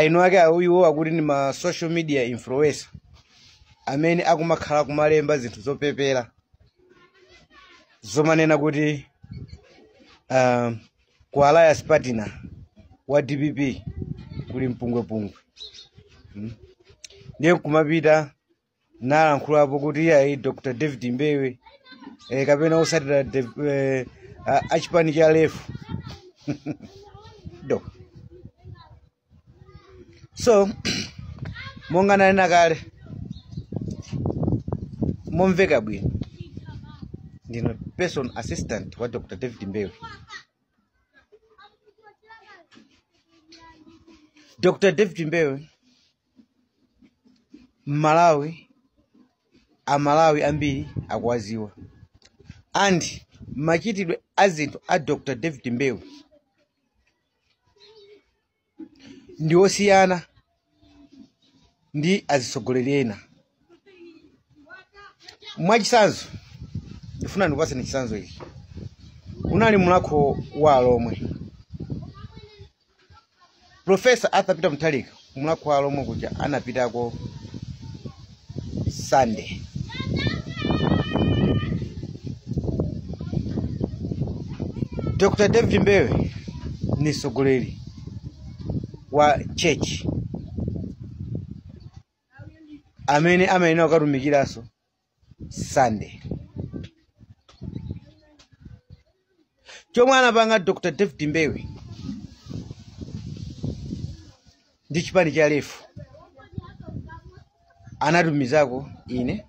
eni ake awo iwo akuti ndi ma social media influencer amene akumakhala kumalemba zinthu zopepera zomanena kuti uh, ku alliance partner wa dpp kuli mpungwepungwe mm. ndiye nkumapita nkulankhulapo kuti iyayi dr david mbewe eh, kapena otsatira Dev- eh, a- achipani cha lefu ndi so monga nanena kale momveka bwino ndine personal assistant wa dr david mbewe dr david mbewe mmalawi amalawi ambiri akuwadziwa and machitidwe a zinthu a dr david mbewe ndi osiyana ndi azitsogoleri ena mwachitsanzo ndifuna ndikupatseni chitsanzo ichi unali mulakho wa alomwe Professor Arthur Peter Mutharika ku mulakho wa alomwe kuja anapitako Sunday. Dr. David Mbewe ndi mtsogoleri wa church amene amayenera kukatumikiranso sunday chomwe anapanga dr david mbewe ndi chipani cha lefu anatumizako ine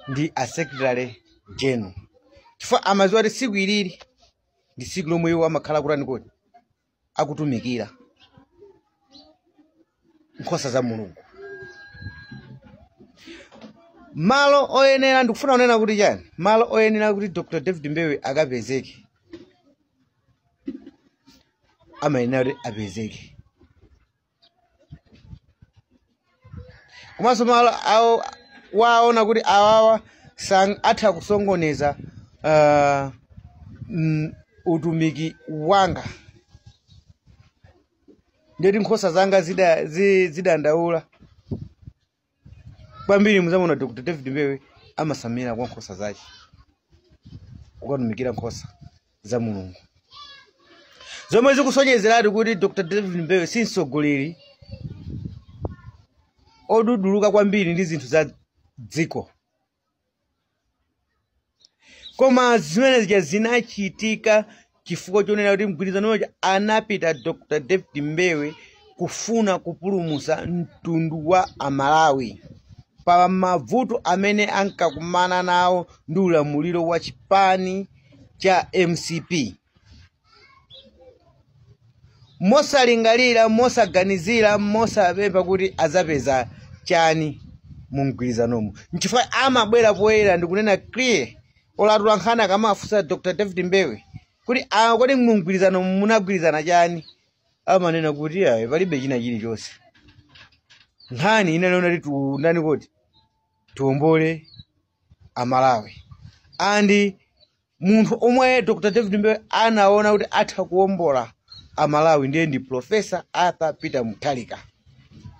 ndi a secretary general chifukwa amadziwa kuti tsiku ilili ndi tsiku lomwe iwo amakhala akutani kodi akutumikira nkhosa za mulungu malo oyenera ndikufuna kunena kuti chani malo oyenera kuti dr david mbewe akapezeke amayenera kuti apezeke komanso malo omwe waona kuti awawa sang- atha kusokoneza ah, mm, utumiki wanga ndeti nkhosa zanga zida- zi- zidandaula kwambiri mudzamuona dr david mbewe amasamira kwa nkhosa zake kukatumikira nkhosa za mulungu zomwe zikusonyezeratu kuti dr david mbewe si mtsogoleri oduduluka kwambiri ndi zinthu za dziko koma zimene zija zinachitika chifukwa chonena kuti mgwirizano uja anapita dr david mbewe kufuna kupulumutsa mtundu wa amalawi pa mavuto amene ankakumana nawo ndi ulamuliro wa chipani cha mcp mosalingalira mosaganizira mosapempha kuti adzapeza chani mu mgwirizanomo nchifukwa amabwera poyera ndikunena clear olatula nkhani akamafunsa dr david mbewe kuti "Ah, kodi mu mgwirizanomo munagwirizana chani amanena kuti ayi palibe china chilichonse nkhani inaliona kuti ndi ndani kuti tiwombole amalawi and munthu omwe dr david mbewe anaona kuti atha kuwombola amalawi ndiye ndi profesa arthur peter mutharika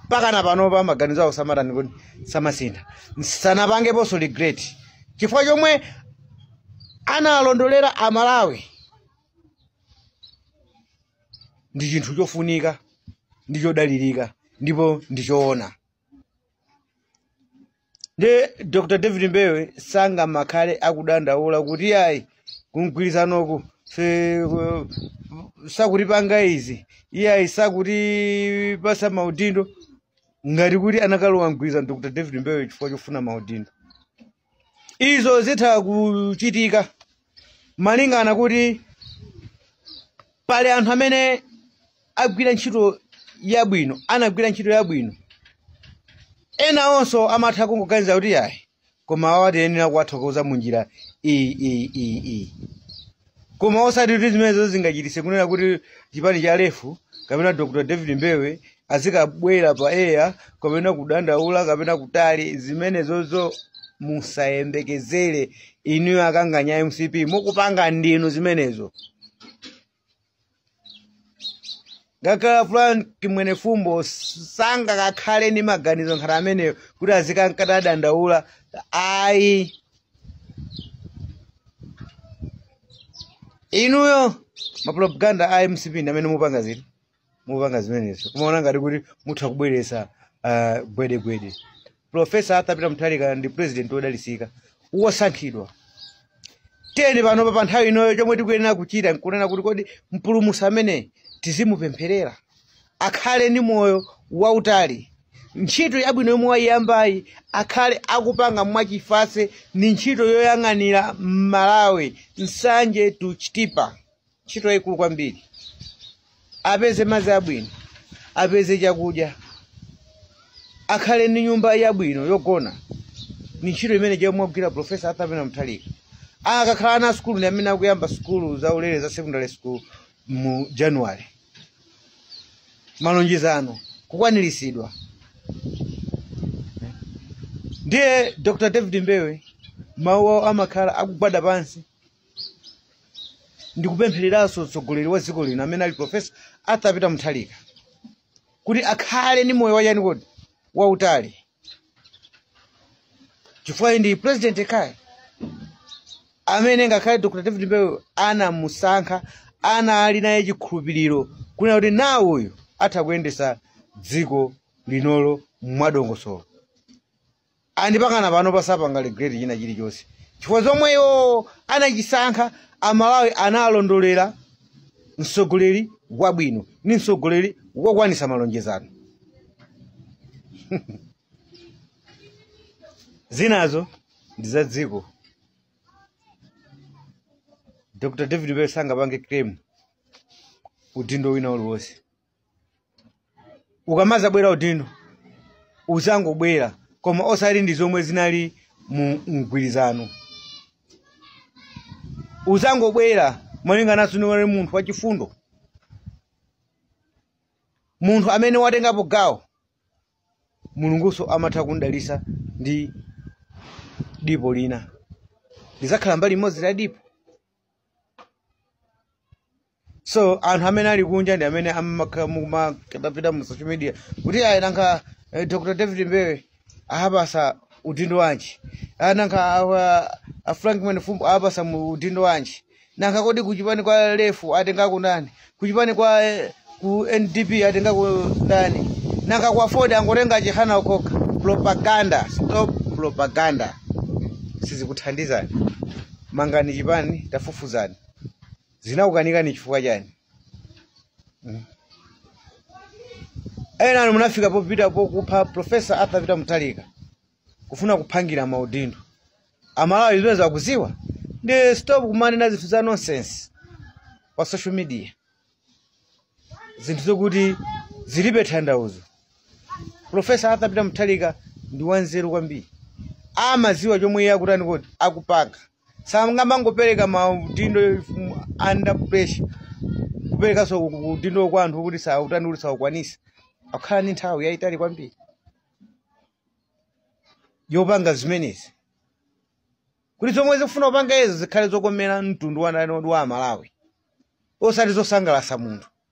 mpakana panopa maganizo awo samatani kodi samasintha sanapangeponso regret chifukwa chomwe analondolera amalawi ndi chinthu chofunika ndi chodalirika ndipo ndi choona nde dr david mbewe sangamakhale akudandaula kuti ayi kumgwirizanoku sakutipanga izi iyayi sakutipatsa maudindo ngati kuti anakalowa mgwirizano dr david mbewe chifukwa chofuna maudindo izo zitha kuchitika malingana kuti pali anthu amene agwira ntchito yabwino anagwira ntchito yabwino ena onso amatha kungoganiza kuti yayi koma awa tiyenera kuwathokoza mu njira iyi iyi iyi iyi koma osati kuti zimenezo zingachititse kunena kuti chipani cha lefu kapena dr david mbewe azikabwera pa air kapena kudandaula kapena kutani zimenezozo musayembekezere inuyo akanganya a mcp mukupanga ndinu zimenezo ngakhale frank mwenifumbo sangakakhale ndi maganizo ngati ameneyo kuti azikangodandaula ayi inuyo mapropaganda a mcp ndi amene mukupanga ziti mupanga zimenezo kumaona ngati kuti mutha kubweretsa ah, gwedegwede profesa arthur peter mutharika ndi president wodalitsika wosankhidwa tiyeni panopa pa nthawi inoyo chomwe tikuyenera kuchita nkunena kuti kodi mpulumutsi ameneyu tizimupempherera akhale ndi moyo wautali ntchito yabwino yomwe wayiyambayi akhale akupanga mwachifatse ndi ntchito yoyang'anira malawi nsanje to chitipa ntchito yayikulu kwambiri apeze madzi abwino apeze chakudya akhale ndi nyumba yabwino yogona ni ntchito imene yomwe wagwira profesa arthur peter mutharika akakhala ana asukulu ndi amene akuyamba sukulu za ulere za secondary school mu january malonjezano kukwaniritsidwa ndiye dr david mbewe mawu awo amakhala akugwada pansi ndikupemphereranso mtsogoleri wa dziko lino amene ali profesa arthur peter mutharika kuti akhale ndi moyo wachani kodi wautali chifukwa ndi president ekhayo amene ngakhale dr david mbewe anamusankha anali naye chikhulupiriro kunena kuti nawo uyu atha kuyendesa dziko linolo mwadongosolo and pakana panopa sapanga regret china chilichonse chifukwa zomwe iwo anachisankha amalawi analondolera mtsogoleri wabwino ni mtsogoleri wokwanisa malonjezano zinazo ndi za dziko dr david mbewe sangapange claim udindo wina uliwonse ukamazabwera udindo uzangobwera koma osati ndi zomwe zinali mu mgwirizano uzangobwera malinganso unali munthu wachifundo munthu amene watengapo gawo mulungunso amatha kundalisa ndi dipo lina lizakhala mbali imodzi la dipo so anthu amene ali kunja ndi amene amakhala akumapita mu social media kuti ayi nanga eh, dr david mbewe awapasa udindo wanji Ah, nanga awa- a frank mwenifumbo awapasa udindo wanji nanga kodi kuchipani kwa lefu atengako ndani kuchipani kwa eh, ku ndp atengako ndani nanga kwa aford angotenga chihana okhaokha propaganda stop propaganda sizikuthandizani mangani chipani tafufuzani zinakukanikani chifukwa chani Mm. ena inu munafika popita kukupha profesa arthur peter mutharika kufuna kuphangira maudindo amalawi zimene akuziwa ndiye stop kumanena zinthu za nonsense pa social media zinthu zokuti zilibe tanthauzo profesa arthur peter mutharika ndi wanzeru kwambiri amaziwa chomwe iye akutani kuti akupanga sangamangopereka maudindo under pressure kuperekanso udindo kwa anthu kuti sautani kuti saukwanisa akhala ndi nthawi yayitali kwambiri yopanga zimenezi kuti zomwe zikufuna kupanga izo zikhale zokomera mtundu wanani wa amalawi osati zosangalasa munthu